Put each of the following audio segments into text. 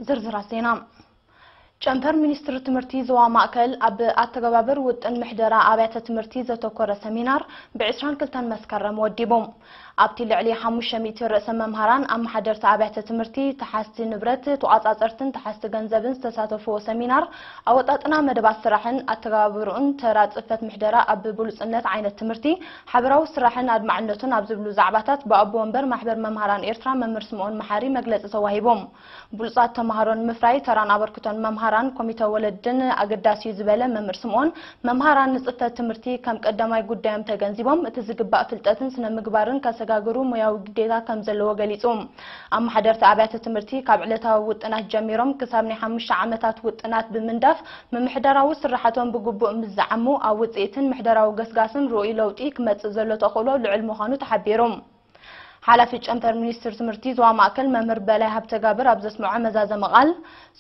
ዝርዝራት ዜና ጨንፈር ሚኒስትሪ ትምህርቲ ዞባ ማእከል ኣብ ኣተገባበር ውጥን ምሕደራ ኣብያተ ትምህርቲ ዘተኮረ ሰሚናር ብ22 መስከረም ወዲቡ ኣብቲ ልዕሊ 500 ርእሰ መምሃራን ኣመሓደርቲ ኣብያተ ትምህርቲ ተሓዝቲ ንብረት ተቋጻጸርትን ተሓዝቲ ገንዘብን ዝተሳተፍዎ ሰሚናር ኣወጣጥና መደባት ስራሕን ኣተገባብርኡን ተራ ጽፈት ምሕደራ ኣብ ብሉጽነት ዓይነት ትምህርቲ ሓበራዊ ስራሕን ኣድማዕነቱን ኣብ ዝብሉ ዛዕባታት ብኣቦ ወንበር ማሕበር መምሃራን ኤርትራ መምህር ስምኦን መሓሪ መግለፂ ተዋሂቦም። ብሉፃት ተምሃሮ ንምፍራይ ተራን ኣበርክቶን መምሃራን፣ ኮሚተ ወለድን ኣገዳሲ እዩ ዝበለ መምህር ስምኦን፣ መምሃራን ንፅፈት ትምህርቲ ከም ቀዳማይ ጉዳዮም ተገንዚቦም እቲ ዝግባእ ፍልጠትን ስነ ምግባርን ከሰጋግሩ ሙያዊ ግዴታ ከምዘለዎ ገሊፁ። ኣመሓደርቲ ኣብያተ ትምህርቲ ካብ ዕለታዊ ውጥናት ጀሚሮም ክሳብ ናይ ሓሙሽተ ዓመታት ውጥናት ብምንዳፍ ምምሕዳራዊ ስራሓቶም ብግቡእ ምስ ዝዓሙ ኣብ ውፅኢትን ምሕደራዊ ገስጋስን ርኡይ ለውጢ ክመፅእ ዘሎ ተኽእሎ ልዑል ምዃኑ ተሓቢሩ። ሓላፊ ጨንፈር ሚኒስትሪ ትምህርቲ ዞባ ማእከል መምህር በላይ ሃብተጋብር ኣብ ዘስመዖ መዛዘሚ ቃል፣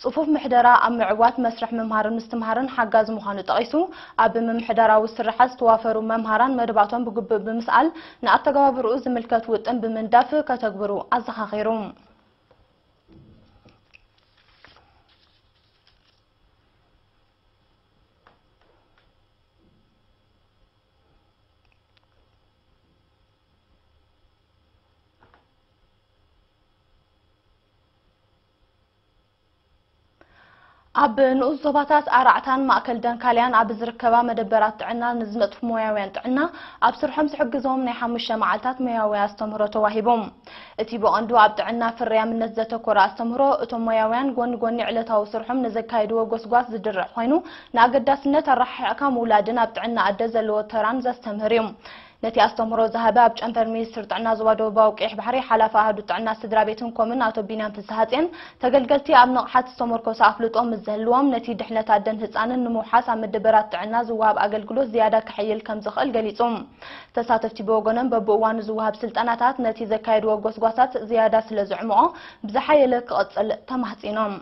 ጽፉፍ ምሕደራ ኣብ ምዕዋት መስርሕ ምምሃርን ምስትምሃርን ሓጋዚ ምዃኑ ጠቒሱ፣ ኣብ ምምሕዳራዊ ስርሓት ዝተዋፈሩ መምሃራን መደባቶም ብግቡእ ብምስኣል ንኣተገባብርኡ ዝምልከት ውጥን ብምንዳፍ ከተግብሩ ኣዘኻኺሩ። ኣብ ንኡስ ዞባታት ኣራዕታን ማእከል ደንካልያን ኣብ ዝርከባ መደበራት ጥዕና ንዝነጥፉ ሞያውያን ጥዕና ኣብ ስርሖም ዝሕግዞም ናይ ሓሙሽተ መዓልታት ሞያዊ ኣስተምህሮ ተዋሂቦም። እቲ ብቐንዱ ኣብ ጥዕና ፍርያምነት ዘተኮረ ኣስተምህሮ፣ እቶም ሞያውያን ጎኒ ጎኒ ዕለታዊ ስርሖም ንዘካይድዎ ጎስጓስ ዝድርዕ ኮይኑ፣ ንኣገዳስነት ኣረሓሒቕካ ምውላድን ኣብ ጥዕና ኣደ ዘለዎ ተራን ዘስተምህር እዩ። ነቲ ኣስተምህሮ ዝሃበ ኣብ ጨንፈር ሚኒስትሪ ጥዕና ዞባ ደቡባዊ ቀይሕ ባሕሪ ሓላፊ ኣሃዱት ጥዕና ስድራ ቤትን ኮምን ኣቶ ቢንያም ፍስሃጽየን፣ ተገልገልቲ ኣብ ንቕሓት ዝተሞርኮሰ ኣፍልጦ ምስ ዝህልዎም ነቲ ድሕነት ኣደን ህጻንን ንምውሓስ ኣብ መደበራት ጥዕና ዝወሃብ ኣገልግሎት ዝያዳ ከሕይል ከም ዝኽእል ገሊጹ። ተሳተፍቲ ብወገኖም በብእዋኑ ዝወሃብ ስልጠናታት ነቲ ዘካየድዎ ጎስጓሳት ዝያዳ ስለ ዘዕምቖ ብዝሓየለ ክቕጽል ተማህጺኖም።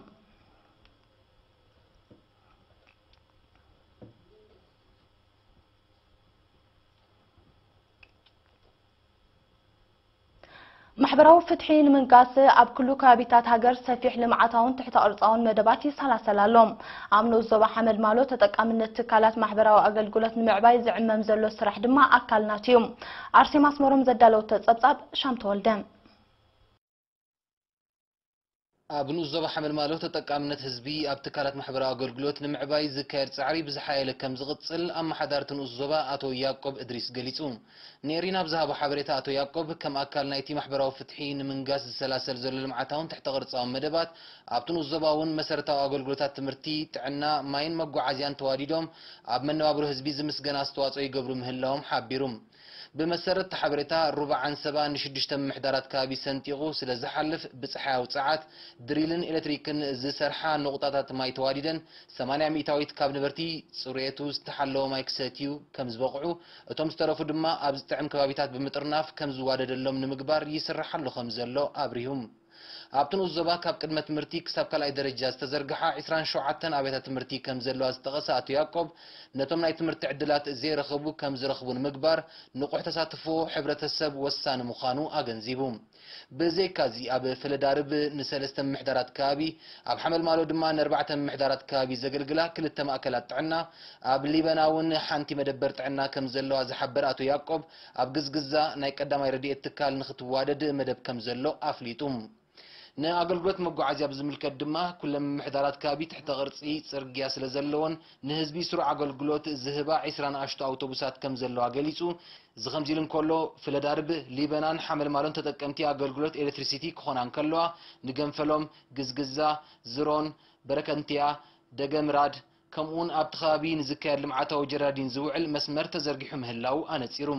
ማሕበራዊ ፍትሒ ንምንጋስ ኣብ ክሉ ከባቢታት ሃገር ሰፊሕ ልምዓታውን ትሕተ ቅርፃውን መደባት ይሰላሰል ኣሎ። ኣብ ንኡስ ዞባ ሓመልማሎ ተጠቃምነት ትካላት ማሕበራዊ ኣገልግሎት ንምዕባይ ዝዕመም ዘሎ ስራሕ ድማ ኣካል ናቱ እዩ። ኣርሴማ ኣስመሮም ዘዳለወቶ ፀብፃብ ሻም ተወልደ ኣብ ንኡስ ዞባ ሓመልማሎ ተጠቃምነት ህዝቢ ኣብ ትካላት ማሕበራዊ ኣገልግሎት ንምዕባይ ዝካየድ ፃዕሪ ብዝሓየለ ከምዝቕፅል ኣመሓዳርቲ ንኡስ ዞባ ኣቶ ያቆብ እድሪስ ገሊፁ። ንኤሪና ኣብ ዝሃቦ ሓበሬታ ኣቶ ያቆብ፣ ከም ኣካል ናይቲ ማሕበራዊ ፍትሒ ንምንጋስ ዝሰላሰል ዘሎ ልምዓታውን ትሕተ ቅርፃውን መደባት ኣብቲ ንኡስ ዞባ እውን መሰረታዊ ኣገልግሎታት ትምህርቲ፣ ጥዕና፣ ማይን መጓዓዝያን ተዋዲዶም ኣብ መነባብሮ ህዝቢ ዝምስገን ኣስተዋፅኦ ይገብሩ ምህላዎም ሓቢሩ። ብመሰረት እቲ ሓበሬታ፣ ሩባ ዓንሰባ ንሽዱሽተ ምምሕዳራት ከባቢ ሰንጢቑ ስለ ዝሓልፍ፣ ብጸሓያዊ ጸዓት፣ ድሪልን ኤለትሪክን ዝሰርሓ ነቑጣታት ማይ ተዋዲደን፣ ሰማንያ ሚእታዊት ካብ ነበርቲ ጽሬቱ ዝተሓለወ ማይ ክሰትዩ ከም ዝበቕዑ፣ እቶም ዝተረፉ ድማ ኣብ ዝጥዕም ከባቢታት ብምጥርናፍ ከም ዝዋደደሎም ንምግባር ይስራሕ ኣሎ ከም ዘሎ ኣብሪሁም። ኣብቲ ንኡስ ዞባ ካብ ቅድመ ትምህርቲ ክሳብ ካልኣይ ደረጃ ዝተዘርግሓ ዕስራን ሸውዓተን ኣብያተ ትምህርቲ ከምዘለዋ ዝጠቐሰ ኣቶ ያቆብ፣ ነቶም ናይ ትምህርቲ ዕድላት ዘይረኸቡ ከምዝረኽቡ ንምግባር ንቑሕ ተሳትፎ ሕብረተሰብ ወሳኒ ምዃኑ ኣገንዚቡ። ብዘይካ'ዚ ኣብ ፈለዳርብ ንሰለስተ ምምሕዳራት ከባቢ፣ ኣብ ሓመልማሎ ድማ ንኣርባዕተ ምምሕዳራት ከባቢ ዘገልግላ ክልተ ማእከላት ጥዕና፣ ኣብ ሊበና'ውን ሓንቲ መደበር ጥዕና ከምዘለዋ ዝሓበረ ኣቶ ያቆብ፣ ኣብ ግዝግዛ ናይ ቀዳማይ ረድኤት ትካል ንክትዋደድ መደብ ከምዘሎ ኣፍሊጡ። ንኣገልግሎት መጓዓዝያ ብዝምልከት ድማ ኩለን ምምሕዳራት ከባቢ ትሕተ ቅርጺ ጽርግያ ስለዘለወን ንህዝቢ ስሩዕ ኣገልግሎት ዝህባ ዕስራ ንኣሽቱ ኣውቶቡሳት ከምዘለዋ ገሊጹ። እዚ ከምዚ ኢሉ እንከሎ፣ ፍለዳርብ፣ ሊበናን ሓመልማሎን ተጠቀምቲ ኣገልግሎት ኤለትሪሲቲ ክኾና እንከለዋ፣ ንገንፈሎም፣ ግዝግዛ፣ ዝሮን፣ በረከንትያ፣ ደገምራድ፣ ከምኡ'ውን ኣብቲ ከባቢ ንዝካየድ ልምዓታዊ ጀራዲን ዝውዕል መስመር ተዘርጊሑ ምህላዉ ኣነጺሩ።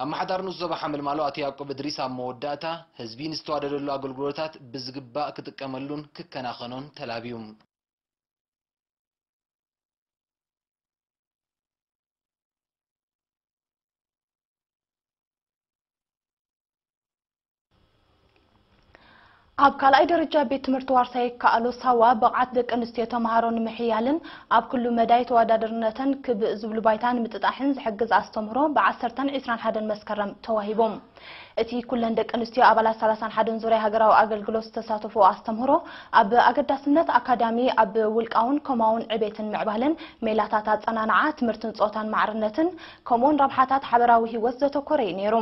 ኣመሓዳሪ ንኡስ ዞባ ሓመልማሎ ኣቶ ያቆብ እድሪስ ኣብ መወዳእታ፣ ህዝቢ ንዝተዋደደሉ ኣገልግሎታት ብዝግባእ ክጥቀመሉን ክከናኸኖን ተላብዩ። ኣብ ካልኣይ ደረጃ ቤት ትምህርቲ ዋርሳ ይከኣሎ ሳዋ ብቕዓት ደቂ ኣንስትዮ ተምሃሮ ንምሕያልን ኣብ ኩሉ መዳይ ተወዳደርነተን ክብ ዝብሉ ባይታ ንምጥጣሕን ዝሕግዝ ኣስተምህሮ ብዓሰርተን ዒስራን ሓደን መስከረም ተዋሂቦም። እቲ ኩለን ደቂ ኣንስትዮ ኣባላት ሰላሳን ሓደን ዙርያ ሃገራዊ ኣገልግሎት ዝተሳተፎ ኣስተምህሮ ኣብ ኣገዳስነት ኣካዳሚ ኣብ ውልቃውን ኮማውን ዕቤትን ምዕባለን ሜላታት ኣጸናንዓ ትምህርትን ጾታን ማዕርነትን ከምኡውን ረብሓታት ሓበራዊ ህይወት ዘተኮረ እዩ ነይሩ።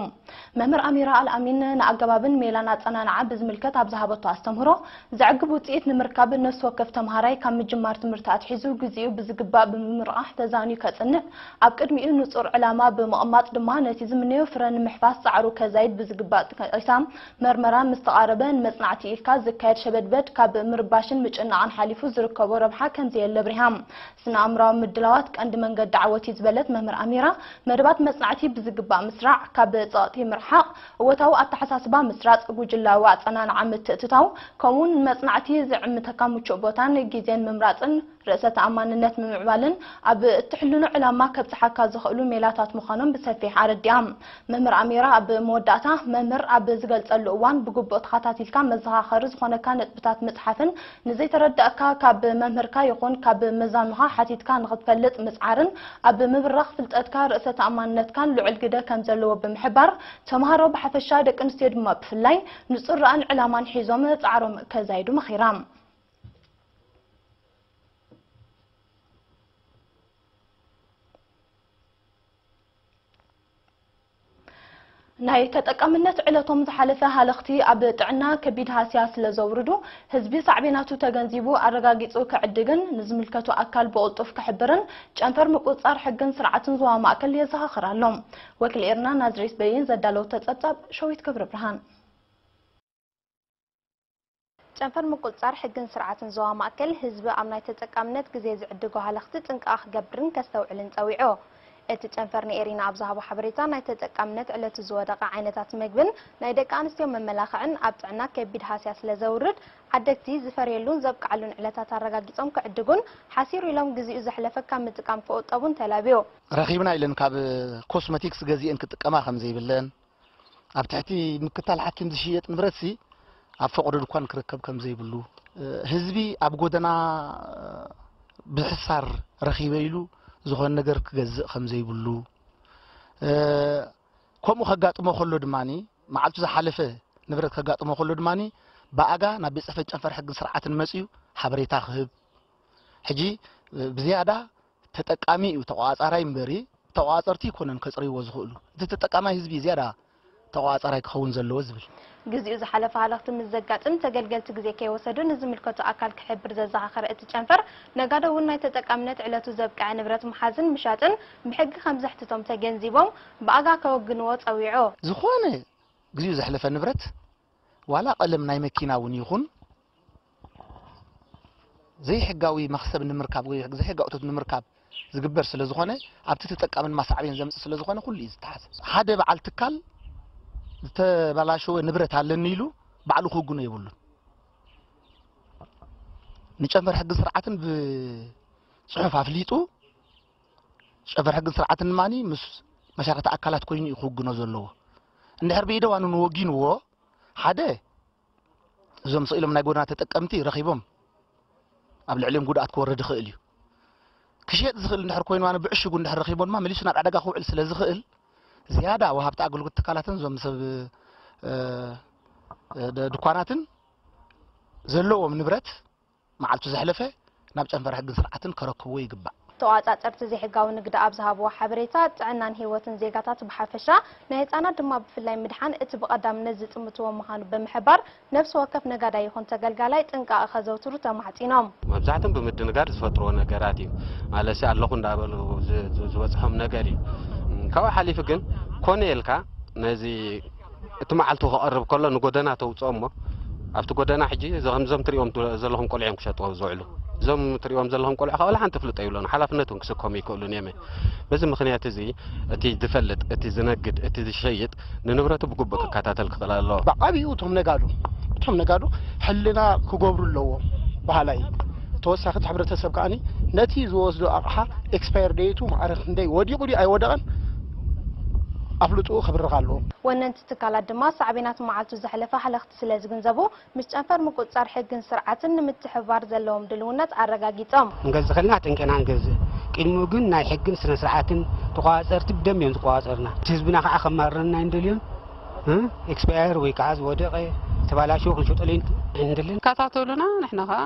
መምህር ኣሚራ ኣልኣሚን ንኣገባብን ሜላን ኣጸናንዓ ብዝምልከት ኣብ ዝሃበቶ ኣስተምህሮ፣ ዘዕግብ ውጽኢት ንምርካብ ነፍሲ ወከፍ ተመሃራይ ካብ ምጅማር ትምህርቲ ኣትሒዙ ግዜኡ ብዝግባእ ብምምርቓሕ ተዛንዩ ከጽንዕ፣ ኣብ ቅድሚኡ ንጹር ዕላማ ብምቕማጥ ድማ ነቲ ዝምነዮ ፍረ ንምሕፋስ ጻዕሩ ከዛይድ ብዝግባእ ጠቂሳ። መርመራ ምስ ተቓረበ ንመጽናዕቲ ኢልካ ዝካየድ ሸበድበድ ካብ ምርባሽን ምጭንናቕን ሓሊፉ ዝርከቦ ረብሓ ከምዘየለ ኣብሪሃ። ስነ-ኣእምሮኣዊ ምድላዋት ቀንዲ መንገዲ ዓወት'ዩ ዝበለት መምህር ኣሚራ፣ መደባት መጽናዕቲ ብዝግባእ ምስራዕ፣ ካብ ጸቕጢ ምርሓቕ፣ እወታዊ ኣተሓሳስባ ምስራጽ፣ ጉጅላዊ ኣጸናንዓ ምትእትታው፣ ከምኡ'ውን ንመጽናዕቲ ዝዕምተካ ምቹእ ቦታን ግዜን ምምራጽን ርእሰ ተኣማንነት ምምዕባልን ኣብ እትሕልኖ ዕላማ ከብጽሓካ ዝኽእሉ ሜላታት ምዃኖም ብሰፊሕ ኣረዲኣ መምህር ኣሚራ ኣብ መወዳእታ። መምህር ኣብ ዝገልጸሉ እዋን ብግቡእ ተኻታቲልካ መዘኻኸሪ ዝኾነካ ነጥብታት ምጽሓፍን ንዘይተረድኣካ ካብ መምህርካ ይኹን ካብ መዛኑኻ ሓቲትካ ንኽትፈልጥ ምጽዓርን ኣብ ምብራኽ ፍልጠትካ ርእሰ ተኣማንነትካን ልዑል ግደ ከም ዘለዎ ብምሕባር፣ ተመሃሮ ብሓፈሻ ደቂ ኣንስትዮ ድማ ብፍላይ ንጹር ራእን ዕላማን ሒዞም ጻዕሮም ከዛይዱ መኺራ። ናይ ተጠቃምነት ዕለቶም ዝሓለፈ ሃለኽቲ ኣብ ጥዕና ከቢድ ሃስያ ስለዘውርዱ ህዝቢ ሳዕቤናቱ ተገንዚቡ ኣረጋጊፁ ክዕድግን ንዝምልከቶ ኣካል ብቕልጡፍ ክሕብርን ጨንፈር ምቁፅፃር ሕግን ስርዓትን ዞባ ማእከል የዘኻኽር ኣሎ። ወኪል ኤርና ናዝሬት በይን ዘዳለወቶ ፀብፃብ ሸዊት ክብርብርሃን። ጨንፈር ምቁጽጻር ሕግን ስርዓትን ዞባ ማእከል፣ ህዝቢ ኣብ ናይ ተጠቃምነት ግዜ ዝዕድጎ ሃለኽቲ ጥንቃቐ ክገብርን ከስተውዕልን ጸዊዑ። እቲ ጨንፈር ንኤሪና ኣብ ዝሃቦ ሓበሬታ፣ ናይ ተጠቃምነት ዕለቱ ዝወደቐ ዓይነታት መግብን ናይ ደቂ ኣንስትዮ መመላኽዕን ኣብ ጥዕና ከቢድ ሃስያ ስለ ዘውርድ፣ ዓደግቲ ዝፈርየሉን ዘብቅዓሉን ዕለታት ኣረጋጊጾም ክዕድጉን ሓሲሩ ኢሎም ግዚኡ ዘሕለፈ ካብ ምጥቃም ክቑጠቡን ተላብዩ። ረኺብና ኢለን ካብ ኮስመቲክስ ገዚኤን ክጥቀማ ከም ዘይብለን፣ ኣብ ትሕቲ ምክታል ሓኪም ዝሽየጥ ንብረትሲ ኣብ ፈቕዶ ድኳን ክርከብ ከም ዘይብሉ፣ ህዝቢ ኣብ ጎደና ብሕሳር ረኺበ ኢሉ ዝኾነ ነገር ክገዝእ ከም ዘይብሉ፣ ከምኡ ከጋጥሞ ከሎ ድማ መዓልቱ ዝሓለፈ ንብረት ከጋጥሞ ከሎ ድማ ብኣጋ ናብ ቤት ጽሕፈት ጨንፈር ሕግን ስርዓትን መጽዩ ሓበሬታ ክህብ ሕጂ ብዝያዳ ተጠቃሚ እዩ ተቆፃፃራይ እምበሪ ተቆፃፀርቲ ኣይኮነን ከፅርይዎ ዝኽእሉ እቲ ተጠቃማይ ህዝቢ ዝያዳ ተቆፃፃራይ ክኸውን ዘለዎ ዝብል። ግዚኡ ዝሓለፈ ሃለኽቲ ምስ ዘጋጥም ተገልገልቲ ግዜ ከይወሰዱ ንዝምልከቶ ኣካል ክሕብር ዘዘኻኸረ እቲ ጨንፈር፣ ነጋዶ እውን ናይ ተጠቃምነት ዕለቱ ዘብቀዐ ንብረት ምሓዝን ምሻጥን ብሕጊ ከምዘሕትቶም ተገንዚቦም ብኣጋ ከወግንዎ ፀዊዑ። ዝኾነ ግዚኡ ዘሕለፈ ንብረት ዋላ ቀለም ናይ መኪና እውን ይኹን ዘይሕጋዊ መኽሰብ ንምርካብ ወይ ዘይሕጋዊ እቶት ንምርካብ ዝግበር ስለ ዝኾነ ኣብቲ ተጠቃሚ ድማ ሳዕቤን ዘምፅእ ስለ ዝኾነ ኩሉ እዩ ዝተሓዝ ሓደ በዓል ትካል ዝተበላሸወ ንብረት ኣለኒ ኢሉ ባዕሉ ክውግኖ የብሉን ንጨንፈር ሕጊ ስርዓትን ብፅሑፍ ኣፍሊጡ ጨንፈር ሕግን ስርዓትን ድማ ምስ መሻርክቲ ኣካላት ኮይኑ እዩ ክውግኖ ዘለዎ እንድሕር ብኢደ ዋኑን ወጊንዎ ሓደ እዞም ስኢሎም ናይ ጎደና ተጠቀምቲ ረኺቦም ኣብ ልዕሊኦም ጉድኣት ክወርድ ይኽእል እዩ ክሸጥ ዝኽእል እንድሕር ኮይኑ ዋኑ ብዕሽጉ እንድሕር ረኺቦ ድማ መሊሱ ናብ ዕዳጋ ክውዕል ስለ ዝኽእል ዝያዳ ወሃብቲ ኣገልግሎት ትካላትን እዞም ሰብ ድኳናትን ዘለዎም ንብረት መዓልቱ ዘሕለፈ ናብ ጨንፈር ሕግን ስርዓትን ከረክብዎ ይግባእ። ተቖፃፀርቲ ዘይሕጋዊ ንግዲ ኣብ ዝሃብዎ ሓበሬታ ጥዕናን ህይወትን ዜጋታት ብሓፈሻ ናይ ህፃናት ድማ ብፍላይ ምድሓን እቲ ብቐዳምነት ዝጥምትዎ ምዃኑ ብምሕባር ነብሲ ወከፍ ነጋዳይ ይኹን ተገልጋላይ ጥንቃቐ ከዘውትሩ ተማሕፂኖም። መብዛሕትኦም ብምድንጋር ዝፈጥርዎ ነገራት እዩ ማለትሲ ኣለኹ እንዳበሉ ዝበፅሖም ነገር እዩ ካብኡ ሓሊፉ ግን ኮነ ኢልካ ነዚ እቲ መዓልቱ ክቐርብ ከሎ ንጎደና ተውፅኦ እሞ ኣብቲ ጎደና ሕጂ ከምዞም ትሪኦም ዘለኹም ቆልዑ እዮም ክሸጥዎ ዝውዕሉ እዞም ትሪኦም ዘለኹም ቆልዑ ካባላ ሓንቲ ፍልጦ ይብሎን ሓላፍነት እውን ክስከሙ ይክእሉን እዮም በዚ ምክንያት እዚ እቲ ዝፈልጥ እቲ ዝነግድ እቲ ዝሸይጥ ንንብረቱ ብግቡእ ክከታተል ክኽእል ኣለዎ ብዓብኡ እቶም ነጋዶ እቶም ነጋዶ ሕልና ክገብሩ ኣለዎ በሃላይ ተወሳኺ እቲ ሕብረተሰብ ከዓኒ ነቲ ዝወስዶ ኣቕሓ ኤክስፓየር ደይቱ ማዕረ ክንደይ ወዲቑ ድዩ ኣይወደቐን ኣፍልጥኡ ክብርኽ ኣለዎ። ወነንቲ ትካላት ድማ ሳዕቤናት መዓልቱ ዘሕለፈ ሃለኽቲ ስለ ዝግንዘቡ ምስ ጨንፈር ምቁጽጻር ሕግን ስርዓትን ንምትሕብባር ዘለዎም ድልውነት ኣረጋጊጾም። ክንገዝእ ከለና ኣጠንቂቕና ንገዝእ። ቅድሚኡ ግን ናይ ሕግን ስነ ስርዓትን ተቖጻጸርቲ ብደንቢ እዮም ዝቖጻጸሩና። እቲ ህዝብና ከኣ ከማርረና ኣይንደልዮን። ኤክስፓየር ወይ ከኣ ዝወደቐ፣ ዝተባላሸወ ክንሸጠሉ ኣይንደልን። ይከታተሉና ንሕና ከኣ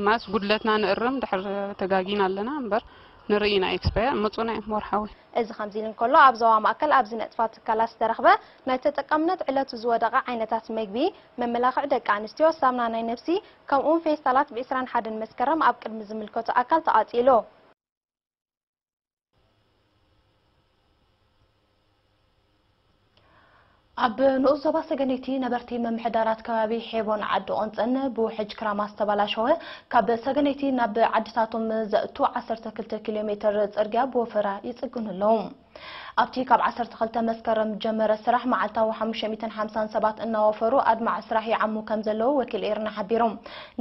ማስ ጉድለትና ንእርም ድሕር ተጋጊና ኣለና እምበር። ንርኢ ኢና ኤክስፐየር ምጹና ዩ ወርሓዊ። እዚ ከምዚ ኢሉ እንከሎ ኣብ ዞባ ማእከል ኣብ ዝነጥፋ ትካላት ዝተረኽበ ናይ ተጠቃምነት ዕለቱ ዝወደቐ ዓይነታት መግቢ፣ መመላኽዒ ደቂ ኣንስትዮ፣ ሳምና ናይ ነብሲ ከምኡ'ውን ፌስታላት ብ ዕስራን ሓደን መስከረም ኣብ ቅድሚ ዝምልከቶ ኣካል ተቓጺሉ። ኣብ ንኡስ ዞባ ሰገነይቲ ነበርቲ ምምሕዳራት ከባቢ ሔቦን ዓዲ ቆንፀን ብውሕጅ ክራማ ዝተባላሸወ ካብ ሰገነይቲ ናብ ዓድታቶም ዘእቱ ዓሰርተ ክልተ ኪሎ ሜትር ፅርግያ ብወፈራ ይፅግኑ ኣለዉ። ኣብቲ ካብ ዓሰርተ ክልተ መስከረም ጀመረ ስራሕ መዓልታዊ ሓሙሽተ ሚእትን ሓምሳን ሰባት እናወፈሩ ኣድማዒ ስራሕ ይዓሙ ከምዘለዉ ወኪል ኤሪና ሓቢሩ።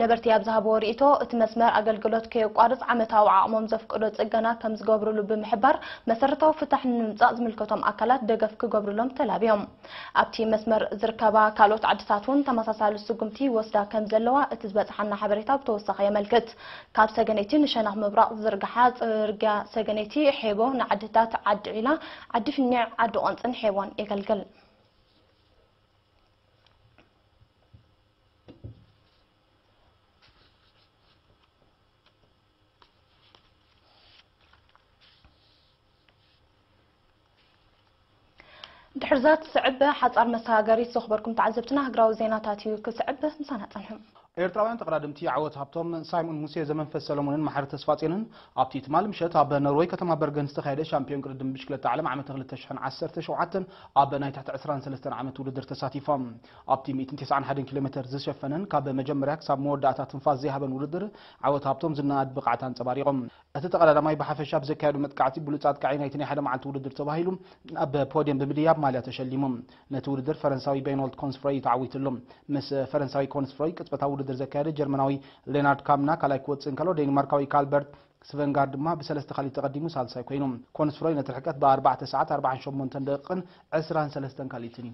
ነበርቲ ኣብ ዝሃብዎ ርኢቶ፣ እቲ መስመር ኣገልግሎት ከየቋርጽ ዓመታዊ ዓቕሞም ዘፍቅዶ ጽገና ከም ዝገብርሉ ብምሕባር፣ መሰረታዊ ፍታሕ ንምምጻእ ዝምልከቶም ኣካላት ደገፍ ክገብርሎም ተላብዮም። ኣብቲ መስመር ዝርከባ ካልኦት ዓድታት'ውን ተመሳሳሊ ስጉምቲ ይወስዳ ከም ዘለዋ እቲ ዝበጽሓና ሓበሬታ ብተወሳኺ የመልክት። ካብ ሰገነይቲ ንሸነኽ ምብራቕ ዝዝርግሓ ጽርግያ ሰገነይቲ፣ ሔቦ ንዓድታት ዓዲ ዒላ፣ ዓዲ ፍኒዕ፣ ዓዲ ቆንጽን ሔቦን የገልግል። ድሕሪ እዛ ትስዕብ ሓጻር መሰጋገሪት ዘኹበርኩም ተዓዘብትና ሃግራዊ ዜናታት እዩ ክስዕብ ምሳና ጸንሑ። ኤርትራውያን ተቐዳድምቲ ዓወት ሃብቶም፣ ሳይሞን ሙሴ፣ ዘመንፈስ ሰለሙንን መሓሪ ተስፋጼንን ኣብቲ ትማል ምሸት ኣብ ኖርወይ ከተማ በርገን ዝተኻየደ ሻምፕዮን ቅድድም ብሽክለታ ዓለም ዓመተ ክልተ ሽሕን ዓሰርተ ሸውዓተን ኣብ ናይ ትሕቲ ዕስራን ሰለስተን ዓመት ውድድር ተሳቲፎም። ኣብቲ ሚእትን ተስዓን ሓደን ኪሎሜተር ዝሸፈነን ካብ መጀመርያ ክሳብ መወዳእታ ትንፋስ ዘይሃበን ውድድር ዓወት ሃብቶም ዝነኣድ ብቕዓት ኣንጸባሪቖም። እቲ ተቐዳዳማይ ብሓፈሻ ብዘካየዶ መጥቃዕቲ ብሉጽ ኣጥቃዒ ናይቲ ናይ ሓደ መዓልቲ ውድድር ተባሂሉ ኣብ ፖድየም ብምድያብ ማልያ ተሸሊሙ። ነቲ ውድድር ፈረንሳዊ በይኖልት ኮንስፍሮይ እዩ ተዓዊትሉ። ምስ ፈረንሳዊ ኮንስፍሮይ ቅጽበታዊ ውድድር ዘካየደ ጀርመናዊ ሌናርድ ካምና ካልኣይ ክወጽእ እንከሎ ዴኒማርካዊ ካልበርት ስቨንጋርድ ድማ ብሰለስተ ካልኢት ተቐዲሙ ሳልሳይ ኮይኑ። ኮንስፍሮይ ነቲ ርሕቀት ብኣርባዕተ ሰዓት ኣርብዓን ሸሞንተን ደቒቕን ዕስራን ሰለስተን ካልኢትን እዩ።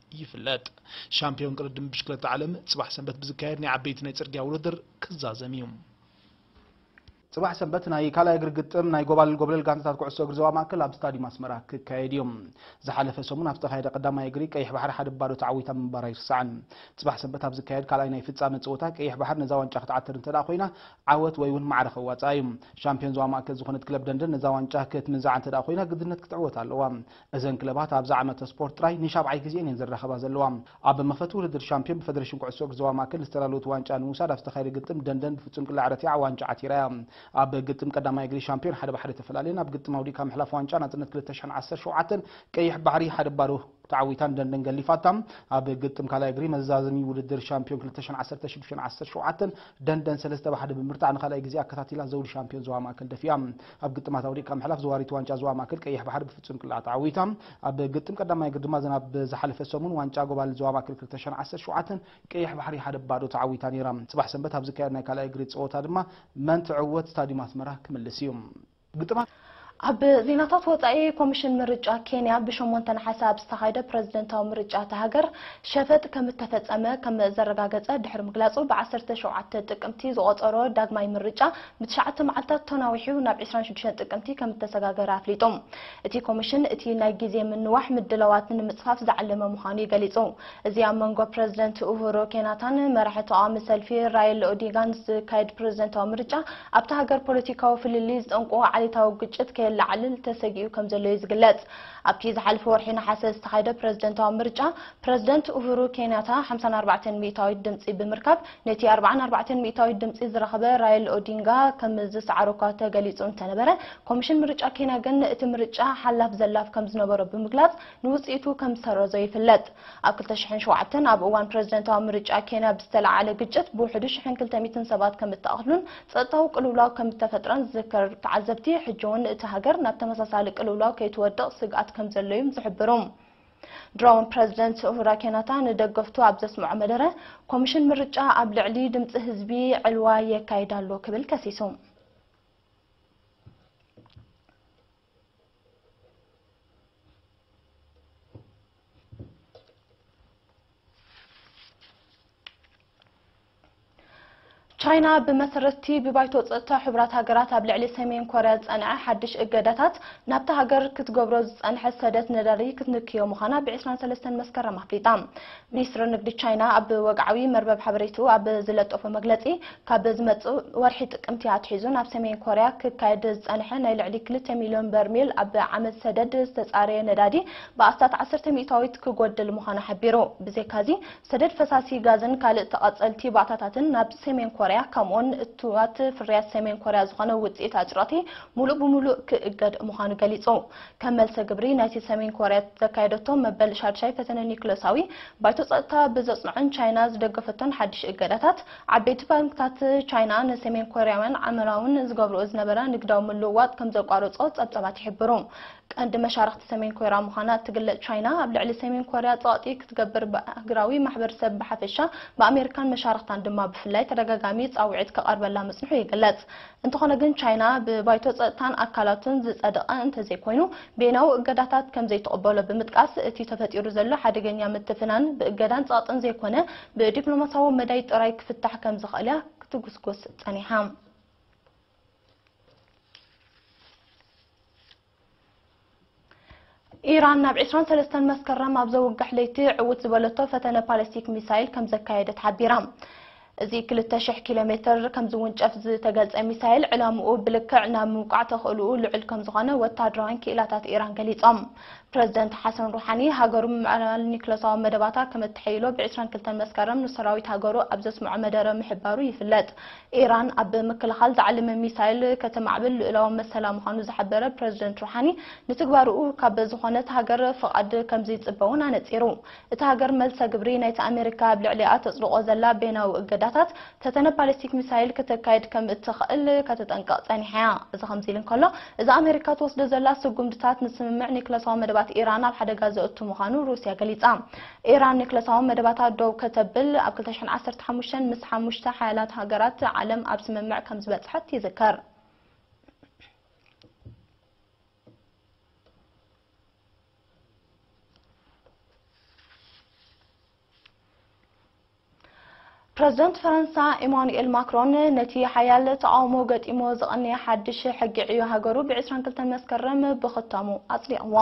ይፍለጥ። ሻምፕዮን ቅድድም ብሽክለታ ዓለም ፅባሕ ሰንበት ብዝካየድ ናይ ዓበይቲ ናይ ፅርግያ ውድድር ክዛዘም እዩ። ፅባሕ ሰንበት ናይ ካልኣይ እግሪ ግጥም ናይ ጎባልል ጎብለል ጋንታታት ኩዕሶ እግሪ ዞባ ማእከል ኣብ ስታዲዩም ኣስመራ ክካየድ እዩ። ዝሓለፈ ሰሙን ኣብ ዝተኻየደ ቀዳማይ እግሪ ቀይሕ ባሕሪ ሓደ ባዶ ተዓዊታ ምንባራ ኣይርሳዕን። ፅባሕ ሰንበት ኣብ ዝካየድ ካልኣይ ናይ ፍፃመ ፀወታ ቀይሕ ባሕር ነዛ ዋንጫ ክትዓትር እንተደኣ ኮይና ዓወት ወይ እውን ማዕረ ከዋፅኣ እዩ። ሻምፕዮን ዞባ ማእከል ዝኾነት ክለብ ደንደን ነዛ ዋንጫ ክትምንዝዓ እንተደኣ ኮይና ግድነት ክትዕወት ኣለዋ። እዘን ክለባት ኣብዚ ዓመተ ስፖርት ጥራይ ንሻብዓይ ግዜኤን እየን ዝራኸባ ዘለዋ። ኣብ መኽፈቲ ውድድር ሻምፕዮን ብፈደሬሽን ኩዕሶ እግሪ ዞባ ማእከል ዝተዳለወት ዋንጫ ንምውሳድ ኣብ ዝተኻየደ ግጥም ደንደን ብፍጹም ቅላዕ ረቲዓ ዋንጫ ዓቲራ እያ። ኣብ ግጥም ቀዳማይ እግሪ ሻምፕዮን ሓደ ብሓደ ተፈላልየን ኣብ ግጥም ኣውዲቕካ ምሕላፍ ዋንጫ ናጽነት ክልተ ሽሕን ዓሰርተ ሸውዓተን ቀይሕ ባሕሪ ሓደ ባዶ ተዓዊታን ደንደን ገሊፋታ። ኣብ ግጥም ካልኣይ እግሪ መዛዘሚ ውድድር ሻምፕዮን ክልተ ሽሕን ዓሰርተ ሽዱሽተን ዓሰርተ ሸውዓተን ደንደን ሰለስተ ብሓደ ብምብርታዕ ንኻልኣይ ግዜ ኣከታቲላ ዘውዲ ሻምፕዮን ዞባ ማእከል ደፊኣ። ኣብ ግጥማት ኣውዲቕካ ምሕላፍ ዘዋሪት ዋንጫ ዞባ ማእከል ቀይሕ ባሕሪ ብፍጹም ቅላዕ ተዓዊታ። ኣብ ግጥም ቀዳማይ ግርድማ ዝናብ ዝሓለፈ ሰሙን ዋንጫ ጎባልል ዞባ ማእከል ክልተ ሽሕን ዓሰርተ ሸውዓተን ቀይሕ ባሕሪ ሓደ ብ ባዶ ተዓዊታ ነይራ። ጽባሕ ሰንበት ኣብ ዝካየድ ናይ ካልኣይ እግሪ ጸወታ ድማ መን ትዕወት ስታድዩም ኣስመራ ክምልስ እዩ። ግጥማት። ኣብ ዜናታት ወጻኢ ኮሚሽን ምርጫ ኬንያ ብሸሞንተ ነሓሰ ኣብ ዝተኻየደ ፕረዚደንታዊ ምርጫ እታ ሃገር ሸፈጥ ከምእተፈጸመ ከምዘረጋገጸ ድሕሪ ምግላጹ ብዓሰርተ ሸውዓተ ጥቅምቲ ዝቖጸሮ ዳግማይ ምርጫ ንትሽዓተ መዓልታት ተናዊሑ ናብ ዕስራን ሽዱሽተን ጥቅምቲ ከም እተሰጋገረ ኣፍሊጡ። እቲ ኮሚሽን እቲ ናይ ግዜ ምንዋሕ ምድላዋት ንምጽፋፍ ዝዓለመ ምዃኑ'ዩ ገሊጹ። እዚ ኣብ መንጎ ፕረዚደንት ኡሁሩ ኬንያታን መራሒ ተቓዋሚ ሰልፊ ራይል ኦዲንጋን ዝካየድ ፕረዚደንታዊ ምርጫ ኣብታ ሃገር ፖለቲካዊ ፍልልይ ዝጠንቁ ዓሌታዊ ግጭት ከየለዓዕል ተሰጊኡ ከም ዘሎ'ዩ ዝግለጽ። ኣብቲ ዝሓለፈ ወርሒ ነሓሰ ዝተኻየደ ፕረዚደንታዊ ምርጫ ፕረዚደንት ኡሁሩ ኬንያታ ሓምሳን ኣርባዕተን ሚእታዊት ድምጺ ብምርካብ ነቲ ኣርብዓን ኣርባዕተን ሚእታዊት ድምጺ ዝረኸበ ራይል ኦዲንጋ ከም ዝሰዓሮ'ኳ ተገሊጹ እንተነበረ፣ ኮሚሽን ምርጫ ኬንያ ግን እቲ ምርጫ ሓላፍ ዘላፍ ከም ዝነበሮ ብምግላጽ ንውጽኢቱ ከም ዝሰረዞ ይፍለጥ። ኣብ ክልተ ሽሕን ሸውዓተን ኣብ እዋን ፕረዚደንታዊ ምርጫ ኬንያ ብዝተለዓዓለ ግጭት ብውሕዱ ሽሕን ክልተ ሚእትን ሰባት ከም እተቐትሉን ጸጥታዊ ቅልውላው ከም እተፈጥረን ዝዝክር ተዓዘብቲ ሕጂ'ውን እታ ሃገር ናብ ተመሳሳሊ ቅልውላው ከይትወድቕ ስግኣት ከም ዘሎ'ዩም ዝሕብሩ። ድሮን ፕረዚደንት ኡሁራ ኬናታ ንደገፍቱ ኣብ ዘስምዖ መደረ፣ ኮሚሽን ምርጫ ኣብ ልዕሊ ድምጺ ህዝቢ ዕልዋ የካይድ ኣሎ ክብል ከሲሱ። ቻይና ብመሰረት'ቲ ብባይቶ ጸጥታ ሕቡራት ሃገራት ኣብ ልዕሊ ሰሜን ኮርያ ዝጸንዐ ሓድሽ እገዳታት፣ ናብታ ሃገር ክትገብሮ ዝጸንሐት ሰደት ነዳዲ ክትንክዮ ምዃና ብ ዕስራን ሰለስተን መስከረም ኣፍሊጣ። ሚኒስትሪ ንግዲ ቻይና ኣብ ወግዓዊ መርበብ ሓበሬትኡ ኣብ ዝለጠፎ መግለጺ፣ ካብ ዝመጽእ ወርሒ ጥቅምቲ ኣትሒዙ ናብ ሰሜን ኮርያ ክካየድ ዝጸንሐ ናይ ልዕሊ ክልተ ሚልዮን በርሚል ኣብ ዓመት ሰደድ ዝተጻረየ ነዳዲ ብኣስታት ዓሰርተ ሚእታዊት ክጎድል ምዃኑ ሓቢሩ። ብዘይካ'ዚ፣ ሰደድ ፈሳሲ ጋዝን ካልእ ተቐጸልቲ ባእታታትን ናብ ሰሜን ኮርያ ከምኡ'ውን እቱዋት ፍርያት ሰሜን ኮርያ ዝኾነ ውጽኢት ኣጭርቕቲ ሙሉእ ብሙሉእ ክእገድ ምዃኑ ገሊጹ። ከም መልሰ ግብሪ ናይቲ ሰሜን ኮርያ ዘካየደቶ መበል ሻድሻይ ፈተነ ኒዩክለሳዊ፣ ባይቶ ጸጥታ ብዘጽንዖን ቻይና ዝደገፈቶን ሓድሽ እገዳታት፣ ዓበይቲ ባንክታት ቻይና ንሰሜን ኮርያውያን ዓመራውን ዝገብርኦ ዝነበራ ንግዳዊ ምልውዋጥ ከምዘቋረጾ ጸብጻባት ይሕብሩ። ቀንዲ መሻርኽቲ ሰሜን ኮርያ ምዃና እትግለጽ ቻይና፣ ኣብ ልዕሊ ሰሜን ኮርያ ጸቕጢ ክትገብር ብኣህግራዊ ማሕበርሰብ ብሓፈሻ፣ ብኣሜሪካን መሻርኽታን ድማ ብፍላይ ተደጋጋሚ ጻውዒት ክቐርበላ ምጽንሑ ይግለጽ። እንተኾነ ግን ቻይና ብባይቶ ጸጥታን ኣካላቱን ዝጸደቐ እንተዘይኮይኑ ቤናዊ እገዳታት ከምዘይትቕበሎ ብምጥቃስ፣ እቲ ተፈጢሩ ዘሎ ሓደገኛ ምትፍናን ብእገዳን ጸቕጥን ዘይኮነ ብዲፕሎማስያዊ መዳይ ጥራይ ክፍታሕ ከምዝኽእል'ያ ክትጉስጉስ ጸኒሓ። ኢራን ናብ ዕስራን ሰለስተን መስከረም ኣብ ዘውግሕ ለይቲ ዕውት ዝበለቶ ፈተነ ፓለስቲክ ሚሳይል ከም ዘካየደት ሓቢራ እዚ 200 ኪሎ ሜትር ከም ዝውንጨፍ ዝተገልጸ ሚሳይል ዕላምኡ ብልክዕ ናብ ምውቃዕ ተኽእልኡ ልዑል ከም ዝኾነ ወተሃደራውያን ክኢላታት ኢራን ገሊጾም። ፕረዚደንት ሓሰን ሩሓኒ ሃገሩ ምዕባል ኒክለሳዊ መደባታ ከም እተሐይሎ ብ22 መስከረም ንሰራዊት ሃገሩ ኣብ ዘስምዖ መደረ ምሕባሩ ይፍለጥ። ኢራን ኣብ ምክልኻል ታዕሊም ሚሳይል ከተማዕብል ልኡላዊ መሰላ ምዃኑ ዝሓበረ ፕረዚደንት ሩሓኒ፣ ንትግባረኡ ካብ ዝኾነት ሃገር ፍቓድ ከምዝይጽበ'ውን ኣነጺሩ። እታ ሃገር መልሰ ግብሪ ናይቲ ኣመሪካ ኣብ ልዕሊኣ ተጽድቖ ዘላ በይናዊ እገዳታት፣ ፈተነ ባሊስቲክ ሚሳይል ክተካይድ ከምእትኽእል ከተጠንቅቕ ጸኒሓ'ያ። እዚ ከምዚ'ሉ እንከሎ፣ እዚ ኣመሪካ ትወስዶ ዘላ ስጉምድታት ንስምምዕ ኒክለሳዊ መደባት ኢራን ኣብ ሓደጋ ዘእቱ ምዃኑ ሩስያ ገሊጻ። ኢራን ኒክለሳዊ መደባታ ደው ከተብል ኣብ ክልተ ሽሕን ዓሰርተ ሓሙሽተን ምስ ሓሙሽተ ሓያላት ሃገራት ዓለም ኣብ ስምምዕ ከምዝበጽሐት ይዝከር። ፕረዚደንት ፈረንሳ ኢማኑኤል ማክሮን፣ ነቲ ሓያል ተቓውሞ ገጢምዎ ዝቐነየ ሓድሽ ሕጊ ዕዮ ሃገሩ ብ ዕስራን ክልተን መስከረም ብኽታሙ ኣጽዲቕዎ።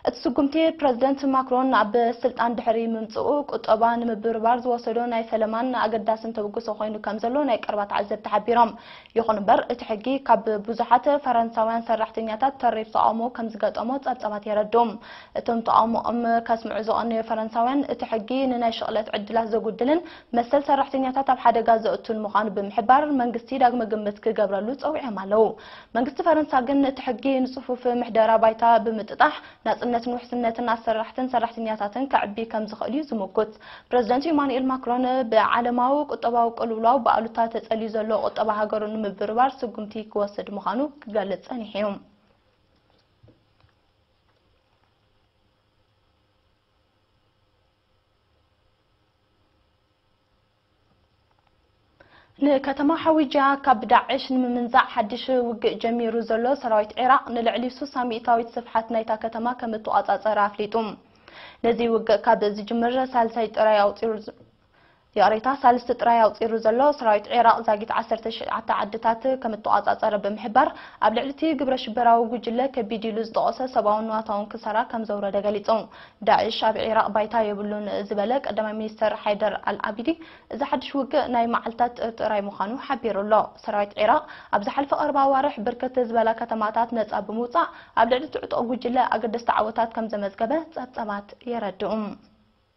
እቲ ስጉምቲ፣ ፕረዚደንት ማክሮን ናብ ስልጣን ድሕሪ ምምጽኡ፣ ቁጠባ ንምብርባር ዝወሰዶ ናይ ፈለማን ኣገዳስን ተበግሶ ኮይኑ ከምዘሎ ናይ ቀረባ ተዓዘብቲ ሓቢሮም። ይኹን'ምበር፣ እቲ ሕጊ ካብ ብዙሓት ፈረንሳውያን ሰራሕተኛታት ተሪር ተቓውሞ ከምዝገጠሞ ጸብጻባት የረድኡ። እቶም ተቓውሞኦም ከስምዑ ዝቐነዩ ፈረንሳውያን፣ እቲ ሕጊ ንናይ ሽቕለት ዕድላት ዘጉድልን መሰል ሰራሕተኛታት ኣብ ሓደጋ ዘእቱን ምዃኑ ብምሕባር፣ መንግስቲ ዳግመ ግምት ክገብረሉ ጸዊዖም ኣለዉ። መንግስቲ ፈረንሳ ግን እቲ ሕጊ ንጽፉፍ ምሕደራ ባይታ ብምጥጣሕ፣ ናጽነትን ውሕስነትን ኣሰራሕትን ሰራሕተኛታትን ከዕቢ ከም ዝኽእል'ዩ ዝምጉት። ፕረዚደንት ኢማኑኤል ማክሮን፣ ብዓለማዊ ቁጠባዊ ቅልውላው ብኣሉታ ተጸልዩ ዘሎ ቁጠባ ሃገሩ ንምብርባር ስጉምቲ ክወስድ ምዃኑ ክገልጽ ጸኒሑ'ዩ። ንከተማ ሓዊጃ ካብ ዳዕሽ ንምምንዛዕ ሓድሽ ውግእ ጀሚሩ ዘሎ ሰራዊት ዒራቕ ንልዕሊ ሱሳ ሚእታዊት ስፍሓት ናይታ ከተማ ከም እተቛጻጸረ ኣፍሊጡ። ነዚ ውግእ ካብ ዝጅምር ሳልሳይ ጥራይ ኣቑጺሩ። ይቕሬታ ሳልስቲ ጥራይ ኣውጺሩ ዘሎ ሰራዊት ዒራቕ ዛጊት ዓሰርተ ትሽዓተ ዓድታት ከምእተቖጻጸረ ብምሕባር፣ ኣብ ልዕሊ'ቲ ግብረሽበራዊ ጉጅለ ከቢድ ኢሉ ዝጠቐሶ ሰብኣውን ንዋታውን ክሳራ ከምዘውረደ ገሊጹ። ዳዒሽ ኣብ ዒራቕ ባይታ የብሉን ዝበለ ቀዳማይ ሚኒስተር ሓይደር ኣልዓቢዲ፣ እዚ ሓድሽ ውግእ ናይ መዓልታት ጥራይ ምዃኑ ሓቢሩ ኣሎ። ሰራዊት ዒራቕ ኣብ ዝሓለፈ ቀረባ ኣዋርሕ ብርክት ዝበላ ከተማታት ነጻ ብምውጻእ ኣብ ልዕሊ'ቲ ዕጡቕ ጉጅለ ኣገደስቲ ዓወታት ከምዘመዝገበ ጸብጻባት የረድኡ።